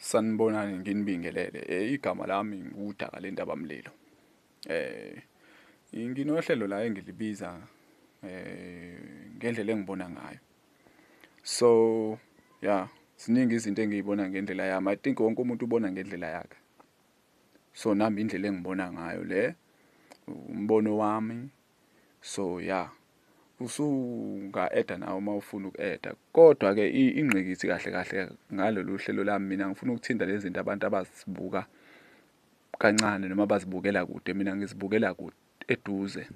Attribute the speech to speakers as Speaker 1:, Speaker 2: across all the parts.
Speaker 1: Sanibonani nginibingelele eh, igama lami ngudaka lendaba mlilo eh nginohlelo la engilibiza eh ngendlela engibona ngayo so yeah ziningi izinto engiyibona ngendlela yami i think wonke umuntu ubona ngendlela yakhe so nami indlela engibona ngayo le umbono wami so ya usunga eda nawe uma ufuna uku-eda kodwa ke ingqikithi kahle kahle ngalolu hlelo lami mina ngifuna ukuthinta lezi zinto abantu abazibuka kancane noma bazibukela kude mina ngizibukela kude eduze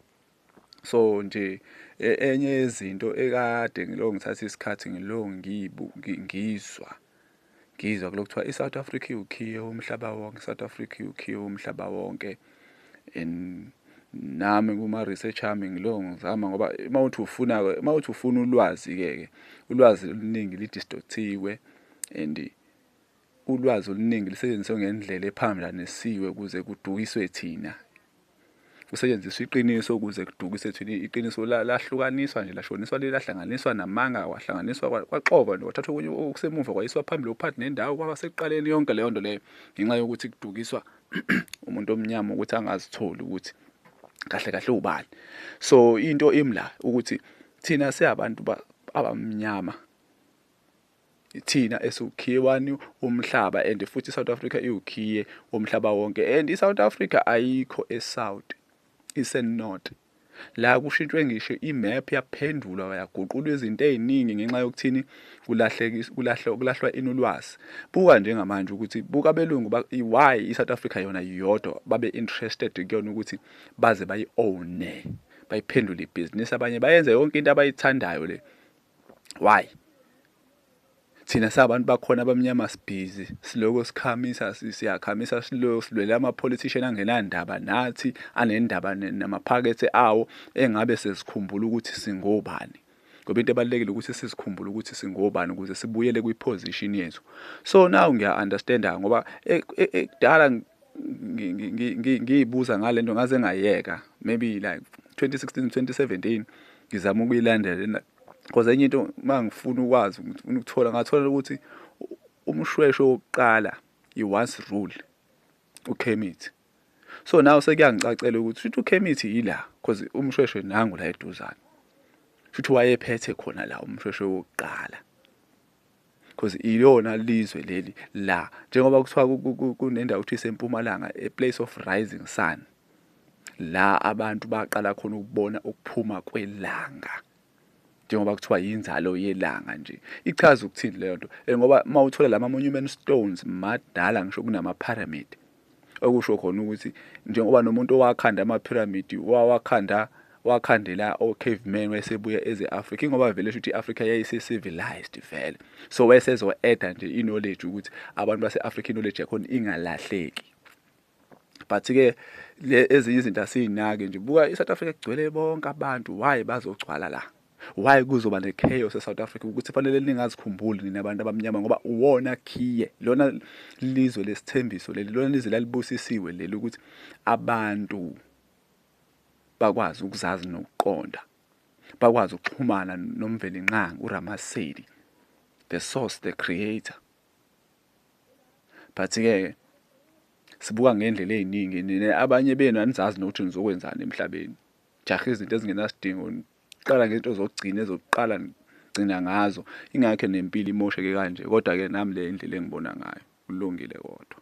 Speaker 1: so nje e, enye yezinto ekade ngiloko ngithatha isikhathi ngiloko ngiyizwa Ngizwa kulokhu kuthiwa iSouth Africa iwukhiye womhlaba wonke, iSouth Africa iwukhiye womhlaba wonke and nami kuma-research ami ngilo ngizama ngoba uma uthi ufuna uma uthi ufuna ulwazi-ke ke ulwazi oluningi lidistothiwe and ulwazi oluningi lisetshenziswe ngendlela ephambanisiwe ukuze kudukiswe thina kusetshenziswa iqiniso ukuze kudukise thina iqiniso lahlukaniswa nje lashoniswa lelahlanganiswa namanga wahlanganiswa kwaxova nje kwathathwa okunye okusemuva kwayiswa phambili okuphathi nendawo kwaba sekuqaleni yonke leyo nto leyo ngenxa yokuthi kudukiswa umuntu omnyama ukuthi angazitholi ukuthi kahle kahle ubani so into imla ukuthi thina siyabantu abamnyama thina esiwukhiye wani womhlaba and futhi iSouth Africa iwukhiye womhlaba wonke and iSouth Africa ayikho eSouth iseNorth la kushintshwe ngisho imap yaphendulwa yaguqulwa izinto eziningi ngenxa yokuthini kulahlwa ini ulwazi buka njengamanje ukuthi buka abelungu why i-south africa yona yodwa babe-interested kuyona ukuthi baze bayi-owne bayiphendule ibhizinisi abanye bayenze yonke into abayithandayo le why thina sabantu bakhona abamnyama sibhizi siloko sikhamisa siyakhamisa silo silwele ama-politician angenandaba nathi anendaba namaphakethe awo engabe sezikhumbula ukuthi singobani ngoba into ebalulekile ukuthi sizikhumbule ukuthi singobani ukuze sibuyele kwi-position yethu so now ngiya-understanda ngoba e-, e-, ekudala ngiyibuza ngale nto ngaze ngayeka maybe like 2016 2017 ngizama ukuyilandela because enye into uma ngifuna ukwazi ngifuna ukuthola ngathola ukuthi umshwesho wokuqala i-once rule ukhemithi so nawe sekuyangicacela ukuthi shuthi ukhemithi yila because umshweshe nangu la eduzane shuthi wayephethe khona la umshweshe wokuqala because iyona lizwe leli la njengoba kuthiwa kunendawo ukuthi isempumalanga a place of rising sun la abantu baqala khona ukubona ukuphuma kwelanga njengoba kuthiwa yinzalo yelanga nje ichaza ukuthini leyo nto ngoba uma uthola lama monument stones madala ngisho kunama pyramid okusho khona ukuthi njengoba nomuntu owakhanda amaphiramidi wawakhanda wakhandela o-caveman wayesebuya eze-afrika ingoba vele shuthi i-afrika yayise-civilized vele so wayesezo-eda nje i-knowledge ukuthi abantu base-afrika i-knowledge yakhona ingalahleki but-ke ezinye izinto asiyinaki nje buka i-south africa kugcwele bonke abantu why bazogcwala la Why kuzoba ne chaos e South Africa ukuthi fanele ningazikhumbuli nina abantu abamnyama ngoba uwona khiye lona lizwe lesithembiso leli lona lizwe lalibusisiwe leli ukuthi abantu bakwazi ukuzazi nokuqonda bakwazi ukuxhumana nomvelinqangi uRamasedi the source the creator but ke sibuka ngendlela eziningi nina abanye benu anizazi nokuthi nizokwenzani emhlabeni jaha izinto ezingenasidingo Qala ngento zokugcina ezokuqala gcina ngazo ingakho nempilo imosheke kanje kodwa ke nami le indlela engibona ngayo kulungile kodwa.